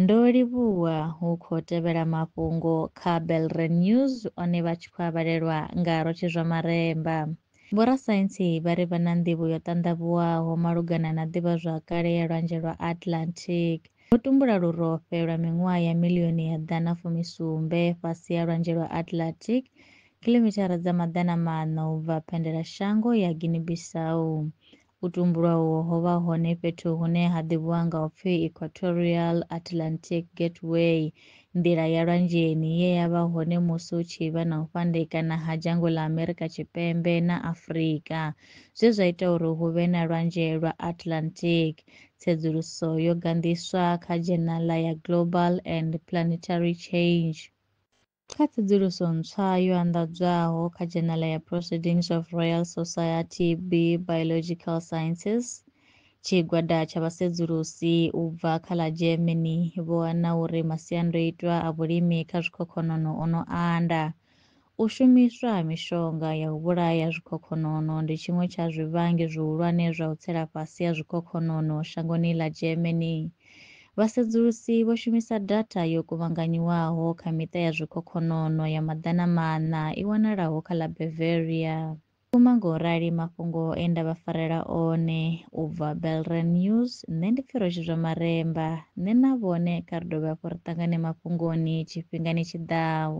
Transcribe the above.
Ndo livhuwa hu khou tevhela mafhungo kha Belre News one vha tshi khou a vhalelwa nga Rotshi Zwa Maremba. Vhorasaintsi vha ri vha na nḓivho yo ṱanḓavhuwaho malugana na ḓivhazwakale ya Lwanzhe lwa Atlantic. Vho tumbula lurofhe lwa miṅwaha ya milioni ya ḓana fumisumbe fhasi ha Lwanzhe lwa Atlantic, khilomithara dza maḓana maṋa u bva phendelashango ya Guinea-Bissau. U tumbulwa uho ho vha hone fhethu hune ha ḓivhiwa nga u pfi Equatorial Atlantic Gateway, nḓila ya lwanzheni, ye ya vha hone musi hu tshi vha na u fhandekana ha dzhango ḽa Amerika Tshipembe na Afrika, zwe zwa ita uri hu vhe na Lwanzhe lwa Atlantic. Tsedzuluso yo ganḓiswa kha dzhenala ya Global and Planetary Change. Kha tsedzuluso ntswa yo anḓadzwaho kha dzhenala ya Proceedings of Royal Society B Biological Sciences, tshigwada tsha vhasedzulusi u bva kha ḽa Germany vho wana uri masiandoitwa a vhulimi kha zwikhokhonono o no anda. U shumiswa ha mishonga ya u vhulaya zwikhokhonono ndi tshiṅwe tsha zwivhangi zwihulwane zwa u tsela fhasi ha zwikhokhonono shangoni ḽa Germany. Vhasedzulusi vho shumisa datha yo kuvhanganyiwaho kha miṱa ya zwikhokhonono ya maḓana maṋa i wanalaho kha ḽa Bavaria. Vhukuma nga u rali mafhungo e nda vha farela one u bva Belran News, nṋe ndi Pfiroshi Zwamaremba, nṋe na vhone kha ri dovhe hafhu ri ṱangane mafhungoni tshifhingani tshi ḓaho.